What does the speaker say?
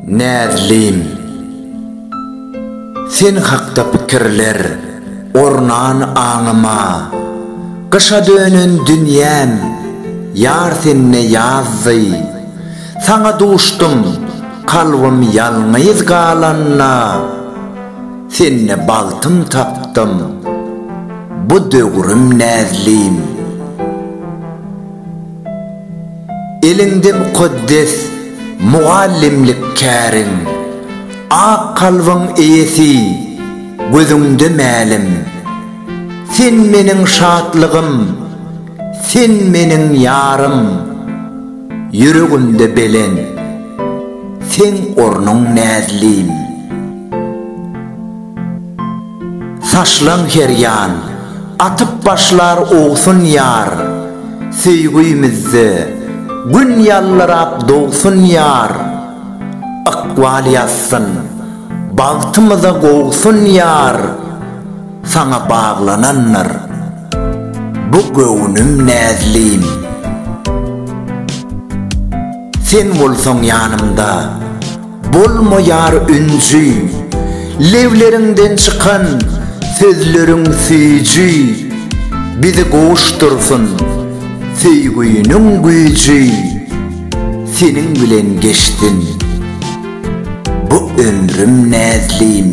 Näzlim Sen hakda pikirler ornan aňyma Gyşa dönen dünýäm ýar sende ýazdy Saňa duşdum, kalbym ýalňyz galanda, Sende bagtym tapdym, bu döwrüm näzlin. Eliňde mukaddes mugallymlyk käriň, Ak kalbyň eýesi, gözüňde mälim. Sen meniň şatlygym, sen meniň ýarym. Ýüregimde belent seň ornuň näzlim. Saçlaň her ýan atyp başlar owsun ýar, Söýgüýmizde Gün ýallyrap dogsun ýar, Ykbal ýazsyn bagtymyza gowsun ýar, Saňa baglanandyr Bu göwnüm näzlim. Sen bolsaň ýanymda. Bolmaýar ünji. Lebleriňden çykan sözleriň süýji. Bizi gowuşdyrsyn söýgüniň güýji. Seniň bilen geçsin bu ömrüm näzlim.